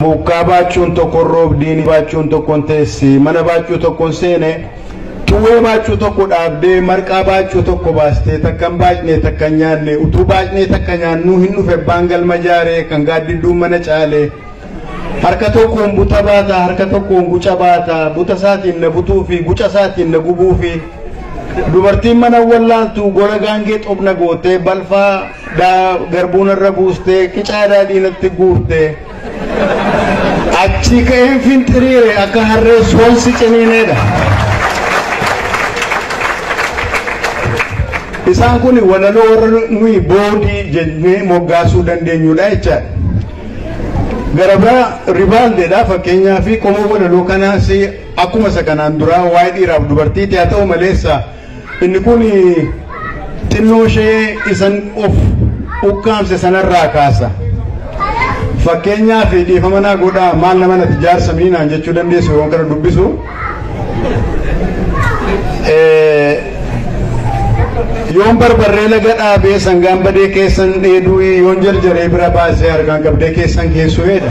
Muukkaa baachuun tokkon roobdii ni baachuun tokkon teessi mana baachuu tokkon seene xuwwee baachuu tokko dhaabdee marqaa baachuu tokko baastee takkan baacnee takkan nyaanne utuu baacnee takka nyaannuu hin dhufe abbaan galma jaaree kan gaaddidduun mana caale harka tokkoon buta baata harka tokkoon guca baata buta isaatiin na butuu fi guca isaatiin na gubuu fi dubartiin mana wallaaltu gola gaangee xobna gootee balfaa dhaa garbuu narra buustee qicaa daadhii natti guurtee achii ka'een finxiriire akka harree soonsi ciniineedha. Isaan kun walaloo warra nuyi boodii jennee moggaasuu dandeenyudha jechaadha. Gara biraa ribaaldeedha fakkeenyaa fi qomoo walaloo kanaas akkuma isa kanaan duraa waa'ee dhiiraaf dubartiiti haa ta'u maleessa Inni kun xinnoo ishee isan of ukkaamse sanarraa kaasa. Fakkeenyaaf dhiifama naa godhaa maal nama nati jaarsa mii naan jechuu dandeessu yeroon kana dubbisu. Yoon barbarree laga dhaabee sangaan badee keessan dheeduu yoon jarjaree bira baasee harkaan qabdee keessan keessuudha.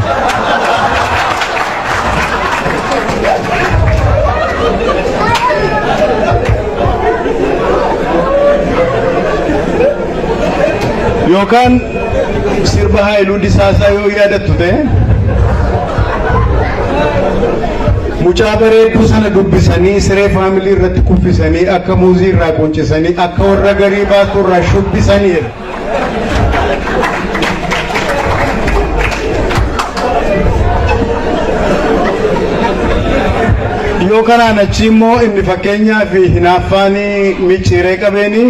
yookaan sirba haayiluu disaasaa yoo yaadattu ta'e mucaa bareedduu sana dubbisanii siree faamilii irratti kuffisanii akka muuzii irraa quncisanii akka warra garii baasuu irraa shubbisanii jedha. yoo kanaan achi immoo inni fakkeenyaa fi hinaaffaan micciiree qabeeni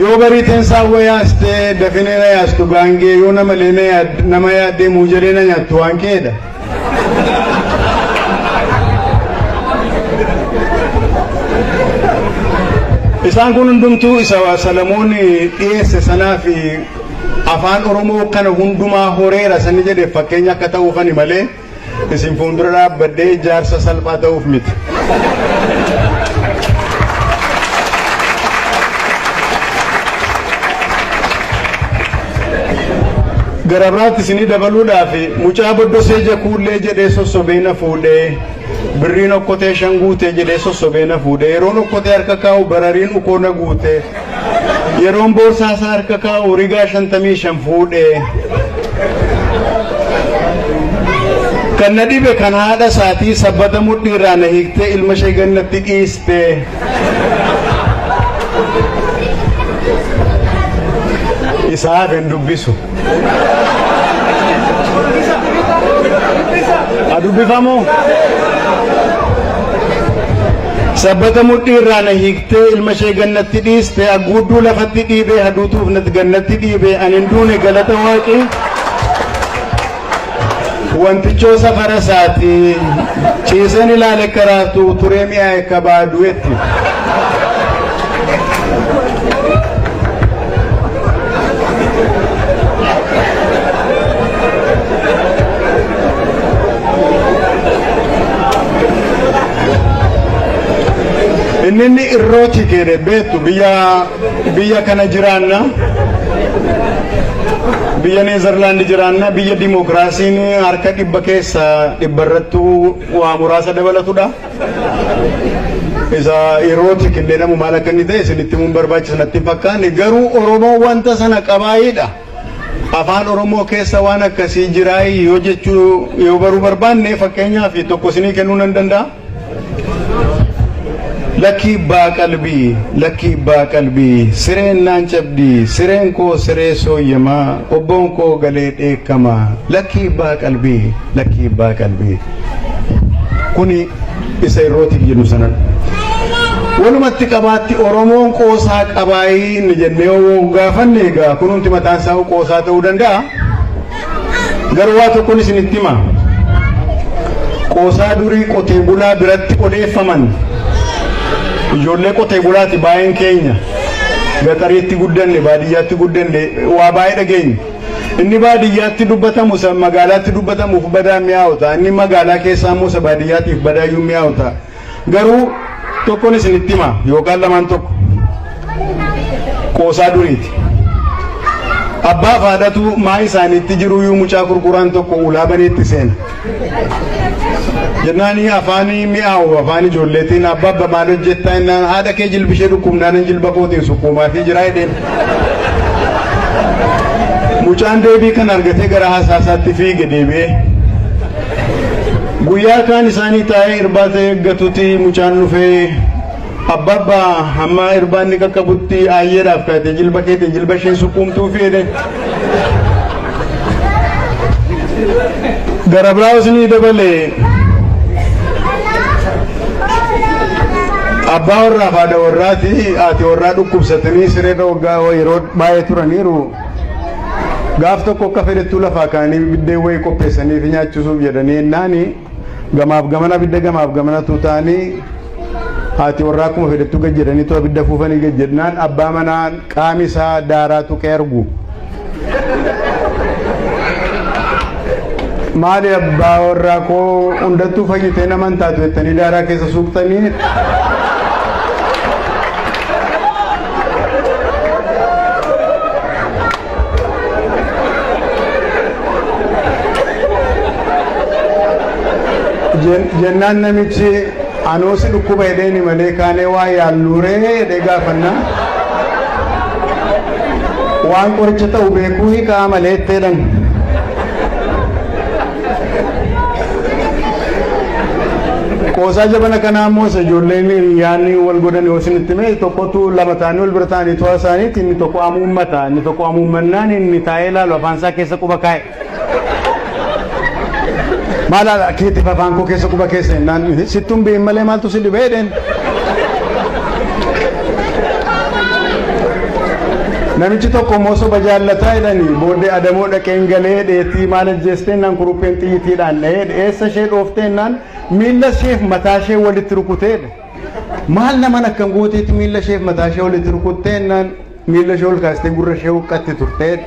yoo barii teensaa wwa yaastee dafinee na yaastu gaangee yoo namalee na yaad- nama yaaddee muujalee na nyaattu waan keedha. Isaan kun hundumtuu isa Salamoon dhiyeesse sanaa fi afaan Oromoo kana hundumaa horeera sani jedhe fakkeenya akka ta'uufani malee isin fuuldura dhaabbadhee jaarsa salphaa ta'uuf miti. Gara biraatti isinii dabaluudhaaf mucaa boddosee jakuullee jedhee sossobee na fuudhee birriin okkotee shan guutee jedhee sossobee na fuudhee yeroon okkotee harka kaa'u barariin ukoo na guutee yeroon boorsaa isaa harka kaa'u rigaa shantamii shan fuudhee kan na dhibe kan haadha isaatii sabbata mudhiirraa na hiiktee ilma ishee gannatti dhiistee. Isaa hafe hin dubbisu. A dubbifamu? Sabbata mudhii irraa na hiiktee ilma ishee gannatti dhiiste agguudduu lafatti dhiibee haduutuuf natti gannatti dhiibee ani hin duune galata waaqii. Wantichoo safara isaati ciiseen ilaale akka raaftu turee mi'aa akka baadu'etti. Inni inni irroo chikeedhe beektu biyya Biyya kana jiraanna. Biyya Neezerlaand jiraanna. Biyya dimookiraasiin harka dhibba keessa dhibba irrattuu waa muraasa dabalatudha. Isa yerootti killee namu maal akka inni ta'e isinitti himuun barbaachisa natti hin fakkaanne. Garuu Oromoon wanta sana qabaayidha. Afaan Oromoo keessa waan akkasii jiraayii yoo jechuu yoo baruu barbaanne fakkeenyaaf tokko isinii kennuu nan danda'a. Lakkii ibbaa qalbii lakkii ibbaa qalbii sireen naan cabdii sireen koo siree sooyyamaa qobboon koo galee dheekkama lakkii ibbaa qalbii lakkii ibbaa qalbii kuni isa irrootiif jennu sanadha. Walumatti qabaatti Oromoon qoosaa qabaayii inni jennee yoo gaafanne egaa kunumti mataan isaa qoosaa ta'uu danda'a. Garuu waa tokkon isinitti hima. Qoosaa durii qotee bulaa biratti odeeffaman ijoollee qotee bulaati baay'een keenya gaxariitti guddanne baadiyyaatti guddanne waa baay'ee dhageenya. Inni baadiyyaatti dubbatamu isa magaalaatti dubbatamuuf badaa mi'aawu ta'a. Inni magaalaa keessaa immoo isa baadiyyaatiif badaayyuu mi'aawu ta'a. Garuu tokkon isinitti hima yookaan lamaan tokko qoosaa duriiti. Abbaa faadhatu maa isaaniitti jiruu yuu mucaa gurguraan tokko ulaa baneetti seena. Jennaanii afaanii mi'aawu afaan ijoolleetiin abbaa abba maal hojjettaa innaan haadha kee jilbishee dhukkubnaanan jilba kootiin sukkuumaa fi jiraa jedheen. Mucaan deebii kan argatee gara haasaasaatti fiige deebi'ee. Guyyaa kaan isaanii taa'ee irbaata eeggatuti mucaan dhufee abbaabba hammaa irbaanni qaqqabutti aayyeedhaaf kaatee jilba keetiin jilba ishee sukkuumtuu fiide. Gara biraas ni dabale. Abbaa warraaf haadha warraati haati warraa dhukkubsatanii sireerra waggaa yeroo baay'ee turaniiru. Gaaf tokko akka fedhettuu lafaa kaanii biddeen wayii qopheessanii fi nyaachisuuf jedhanii ennaan gamaaf gamana abidda gamaaf gamana tuutaanii haati warraa akkuma fedhettuu gad jedhanii too abidda fuufanii gad jedhnaan abbaa manaa qaami isaa daaraa tuqee argu. Maali abbaa warraa koo hundattuu fayyitee nama hin taatu jettanii daaraa keessa suuqtanii. Jen- jennaan namichi anoo si dhukkuba jedheeni malee kaanee waa yaalluuree jedhee gaafanna waan qoricha ta'u beekuu hiikaa malee itti jedhan Qoosaa jabana kanaa immoo isa ijoolleen hiriyaanni wal godhan yoo isinitti hime tokkotu lama ta'anii wal bira ta'anii to'a isaaniitti inni tokko amuummata inni tokko amuummannaan inni taa'ee ilaalu afaan isaa keessa quba kaa'e. Maal haala keetiif afaan koo keessa quba keessa jennaan sittuun bi'in malee maaltu si dhibee jedheen. Namichi tokko immoo soba jaallataa jedhanii booddee adamoo dhaqeen galee dheetii maal ajjeesteennaan kurupheen xiyyiitiidhaan dha'ee dheessa ishee dhoofteennaan miilla isheef mataa ishee walitti rukuteedha. Maal naman akkan gooteetti miilla isheef mataa ishee walitti rukutteennaan miilla ishee ol kaastee gurra ishee huqqatti turteedha.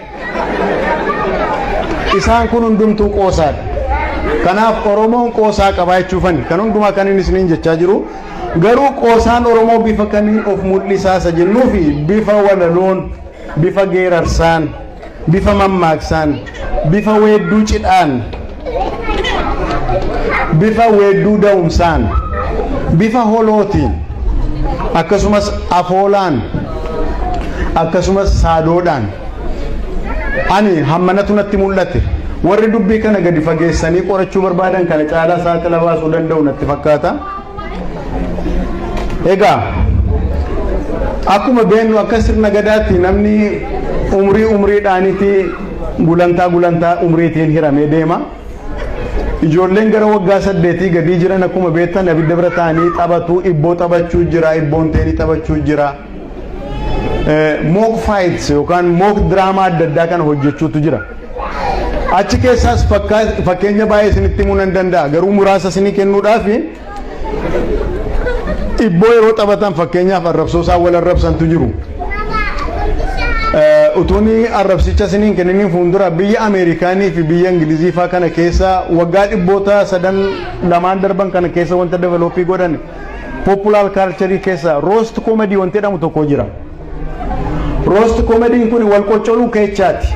Isaan kun hundumtuu qoosaadha. Kanaaf Oromoon qoosaa qabaa jechuufani. Kan hundumaa kan inni isiniin jechaa jiru Garuu qoosaan Oromoo bifa kamiin of mul'isaa isa jennuufi bifa walaloon, bifa geerarsaan, bifa mammaaksaan, bifa weedduu cidhaan, bifa weedduu da'umsaan, bifa holootiin, akkasumas afoolaan, akkasumas saadoodhaan ani hammanatu natti mul'ate. Warri dubbii kana gadi fageessanii qorachuu barbaadan kana caalaa saaxila baasuu danda'u natti fakkaata. Egaa akkuma beennu akka sirna gadaatti namni umrii umriidhaanitti gulantaa gulantaa umriitiin hiramee deema. Ijoolleen gara waggaa saddeetii gadii jiran akkuma beektan abidda bira taa'anii taphatu, ibboo taphachuu jira, ibboon teenii taphachuu jira. mook faayits yookaan mook diraamaa adda addaa kana hojjechuutu jira. Achi keessaas fakkeenya baay'ee isinitti himuu nan danda'a garuu muraasa isinii kennuudhaaf dhibboo yeroo taphatan fakkeenyaaf arrabsoo isaan wal arrabsantu jiru. Utuun arrabsicha isiniin kenniniin fuuldura biyya Ameerikaanii fi biyya Ingilizii fa'aa kana keessa waggaa dhibboota sadan lamaan darban kana keessa wanta develooppii godhan Populaar kaalcharii keessa roost koomedii wanti jedhamu tokko jira. Roost koomediin kun wal qoccoluu keechaati.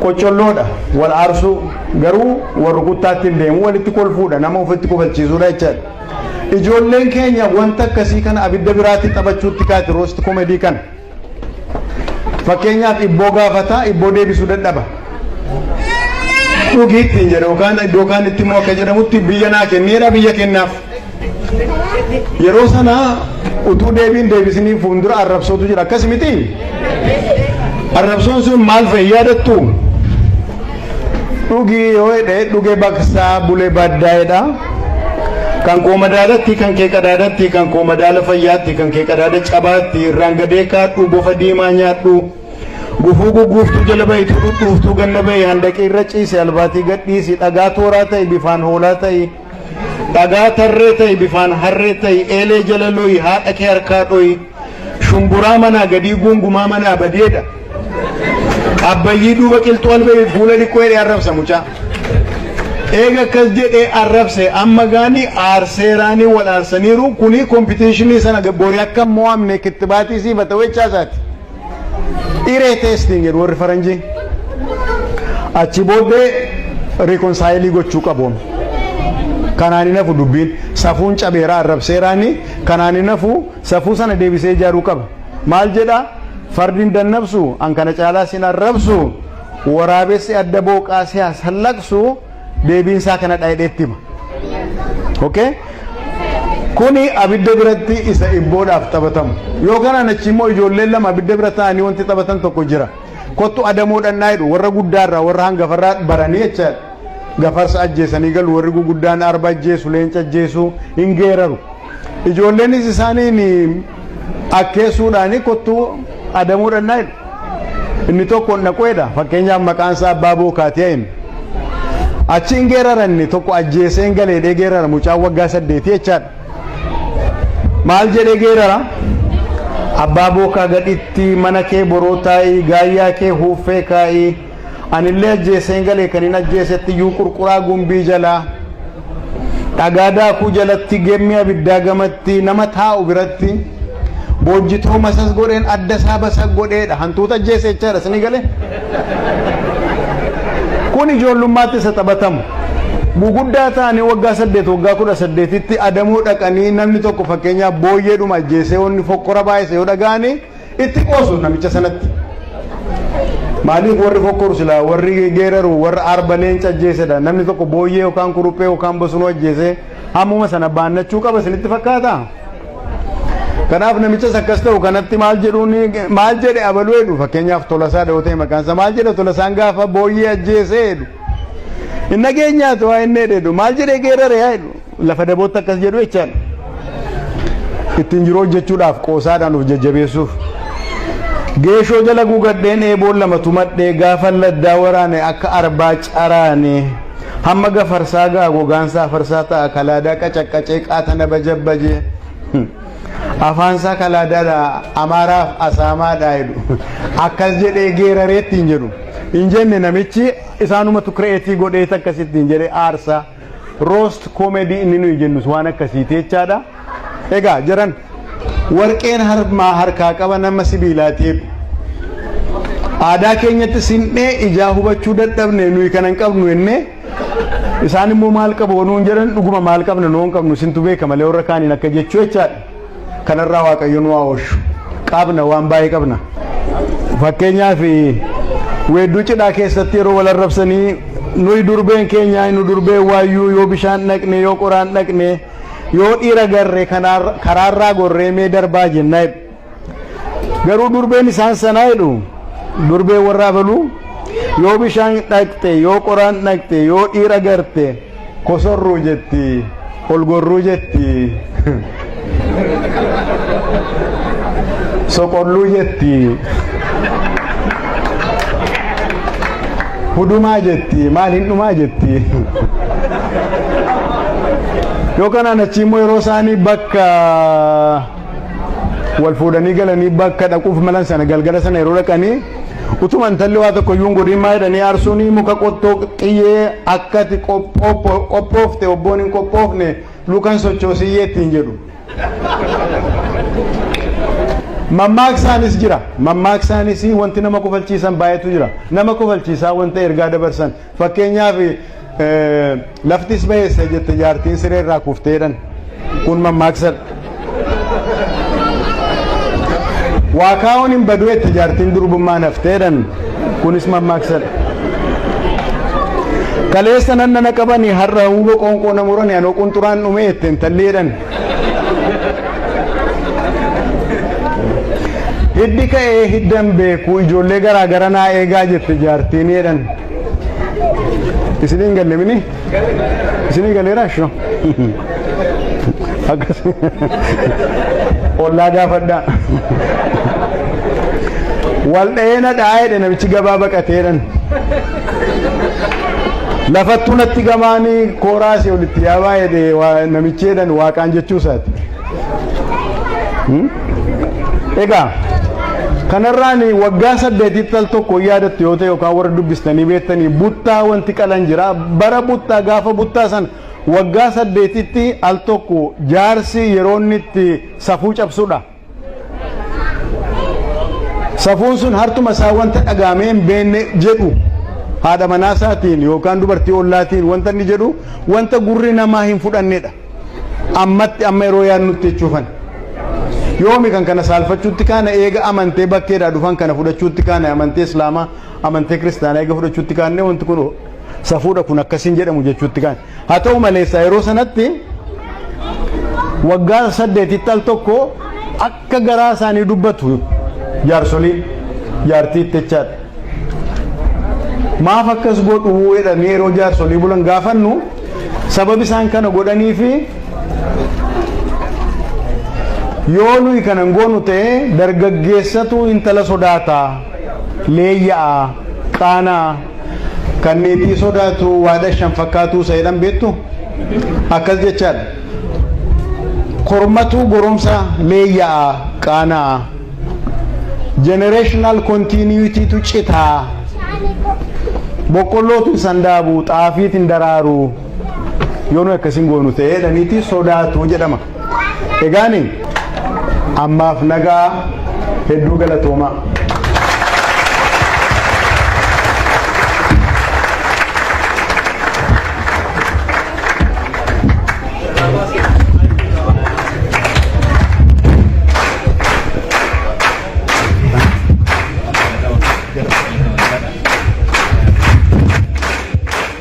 Qoccolloodha wal aarsuu garuu wal rukuttaatti hin deemu walitti kolfuudha nama ofitti kofalchiisuudha jechaadha. Ijoolleen keenya wanta akkasii kana abidda biraatti taphachuutti kaati roost koomedii kana. Fakkeenyaaf ibboo gaafata, ibboo deebisuu dadhaba. Dhugi ittiin jedha yookaan iddoo kaan itti immoo akka jedhamutti biyya naa kenneera biyya kennaaf. Yeroo sana utuu deebiin deebisanii fuuldura arrabsootu jira akkas miti. Arrabsoon sun maal fa'i yaadattu? Dhugii yoo hidhe dhuge baksaa bule baddaa jedha. Kan koo madaalatti kan kee qadaadatti kan koo madaala fayyaatti kan kee qadaada cabaatti irraan gadee kaadhu bofa diimaa nyaadhu. Gufuu gugguuftuu jala bahitu dhudhuuftuu ganna bahi handaqii irra ciise albaatii gadhiisi dhagaa tooraa ta'i bifaan hoolaa ta'i. Dhagaa tarree ta'i bifaan harree ta'i eelee jala lo'i haadha kee harkaa dho'i shumburaa manaa gadii guungumaa manaa badeedha abbayyii duuba qilxuu albeebi fuula dhiqqoo jedhee arrabsa mucaa eega akkas jedhee arrabse amma gaanii aarseeraanii wal aarsaniiru kunii kompitiishinii sana boori akka mo'amne kittibaatii siifata wechaasaati. Iree testing jedhu warri faranjii. Achi booddee reconcile gochuu qabu. Kanaan hin hafu dubbiin safuun cabeeraa arrabseeraani kanaan hin hafu safuu sana deebisee ijaaruu qaba. Maal jedha fardiin dannabsu an kana caalaa sin arrabsu waraabessi adda booqaa siyaas hallaqsu deebiin isaa kanadha jedhee itti hima. Okay? Kuni abidda biratti isa ibboodhaaf taphatamu. Yoo kanaan achi immoo ijoolleen lama abidda bira taa'anii wanti taphatan tokko jira. Kottu adamoo dhannaa jedhu warra guddaarraa warra hangafarraa baranii jecha gafarsa ajjeesanii galu warri guguddaan arba ajjeesu leenca ajjeesu hin geeraru. Ijoolleenis isaaniin akkeessuudhaani kottuu adamoo dhannaa jedhu. Inni tokko hin dhaqu jedha. Fakkeenyaaf maqaan isaa abbaa bookaatiyaa inni. Achi hin geerara inni tokko ajjeesee hin galeedhee geerara mucaan waggaa saddeetii jechaadha. Maal jedhee geerara? Abbaa bookaa gadhitti mana kee boroo taa'ii gaayyaa kee huuffee kaa'ii. Anillee ajjeeseen galee kan hin ajjeesetti iyyuu qurquraa gumbii jalaa dhagaa daakuu jalatti gemmi abiddaa gamatti nama taa'u biratti boojjitoo masas godheen adda isaa basa godheedha hantuuta ajjeese jechaadha isinii galee. Kun ijoollummaatti isa taphatamu. Guguddaa ta'anii waggaa saddeet waggaa kudha saddeetitti adamoo dhaqanii namni tokko fakkeenyaaf booyyeedhuma ajjeesee wanni fokkora baay'ise yoo dhaga'anii Itti qoosu namicha sanatti. Maaliif warri fokkoru silaa warri geeraru warra arba leenca ajjeesedha namni tokko booyyee yookaan kuruphee yookaan bosonuu ajjeesee hammuma sana baannachuu qaba isinitti fakkaata. Kanaaf namichas akkas ta'u kanatti maal jedhuun maal jedhe abaluu jedhu fakkeenyaaf tolasaa dha'oo ta'e maqaan isaa maal jedhe tolasaan gaafa booyyee ajjeesee jedhu. Hin dhageenyaatu waa inni jedhu maal jedhee geerare yaa jedhu. Lafa dabootti akkas jedhu jechaan ittiin jiru hojjechuudhaaf qoosaadhaan of jajjabeessuuf. Geeshoo jala guugadheen eeboon lama tumadhee gaafa laddaa waraane akka arbaa caraane hamma gafarsaa ga'a gogaansaa afarsaa ta'a kalaadaa qacaqqacee qaatana bajabbaje afaansaa kalaadaadha amaaraaf asaamaadha jedhu akkas jedhee geeraree ittiin jedhu hin jenne namichi isaanumatu kireetii godhee akkasittiin jedhee aarsaa. Roast comedy inni nuyi jennus waan akkasiiti jechaadha. Egaa jaran warqeen harmaa harkaa qaba nama sibiilaati jedhu. Aadaa keenyatti sin'ee ijaa hubachuu dadhabne nuyi kana hin qabnu jennee isaan immoo maal qabu nuun jedhan dhuguma maal qabna nuun qabnu isintu beeka malee warra kaaniin akka jechuu jechaadha. Kanarraa Waaqayyo nu haa oolchu. Qabna waan baay'ee qabna. Fakkeenyaaf weedduu cidhaa keessatti yeroo wal arrabsanii nuyi durbeen keenya nu durbee waayyuu yoo bishaan dhaqne yoo qoraan dhaqne yoo dhiira garre karaarraa gorree mee darbaa jennaa jedhu. Garuu durbeen isaan sanaa jedhu durbee warra abaluu yoo bishaan dhaqxe yoo qoraan dhaqxe yoo dhiira garte Kosorruu jetti, ol gorruu jetti, soqolluu jetti, hudumaa jetti, maal hin dhumaa jetti. Yoo kanaan achi immoo yeroo isaanii bakka wal fuudhanii galanii bakka dhaquuf malan sana galgala sana yeroo dhaqanii Utuma intalli waa tokko iyyuu hin godhin maa jedhanii aarsuun muka qottoo xiyyee akkati qophoofte obboon hin qophoofne lukan sochoosiyyee ittiin jedhu. Mammaaksaanis jira. Mammaaksaanis wanti nama kofalchiisan baay'eetu jira. Nama kofalchiisaa wanta ergaa dabarsan Fakkeenyaaf laftis baheessa jette jaartiin siree irraa kufteedhan. Kun mammaaksadha. Waa kaa'uun hin badu jette jaartiin durbummaan hafteedhan. Kunis mammaaksadha. Kaleessa nanna na qabanii har'a huuba qoonqoo na muranii anoo qunxuraan dhumee jette intalleedhan. Hiddi ka'ee hiddan beeku ijoollee garaa gara naa eegaa jette jaartiin jedhan. Isiniin galle mini? Isinii galeera shoo? Akkas. Ollaa gaafadhaa. Wal dha'ee na dha'aa jedhe namichi gabaa baqateedhan. Lafattuu natti gamaanii kooraasii olitti yaa baay'ee namichi jedhan waaqaan jechuu isaati. Egaa kanarraan waggaa saddeetitti al tokko yaadattu yoo ta'e yookaan warra dubbistanii beektanii buttaa wanti qalan jira. Bara buttaa gaafa buttaa san waggaa saddeetitti al tokko jaarsi yeroo inni itti safuu cabsudha. Safuun sun hartuma isaa wanta dhagaamee hin beenne jedhu haadha manaa isaatiin yookaan dubartii ollaatiin wanta inni jedhu wanta gurri namaa hin fudhannedha. Ammatti amma yeroo yaadnutti jechuufan. Yoomi kan kana saalfachuutti kaana eega amantee bakkeedhaa dhufan kana fudhachuutti kaana amantee islaamaa amantee kiristaanaa eega fudhachuutti kaanne wanti kun safuudha kun akkasiin jedhamu jechuutti kaana. Haa ta'u maleessa yeroo sanatti waggaa saddeetitti al tokko akka garaa isaanii dubbatu jaarsoliin jaartii ittichaadha. Maaf akkas godhuu jedhanii yeroo jaarsolii bulan gaafannu sababi isaan kana godhanii fi yoo nuyi kana hin goonu ta'e dargaggeessatu intala sodaata leeyya'a qaanaa kan meetii sodaatu waada shan fakkaatuu isa jedhan beektu akkas jechaadha. Kormatuu goromsa leeyya'a qaanaa generational continuity tu citaa boqqollootu hin sandaabu xaafiitu hin daraaru yoo nu akkasiin goonu ta'ee jedhaniiti sodaatu jedhama. Egaani ammaaf nagaa hedduu galatoomaa.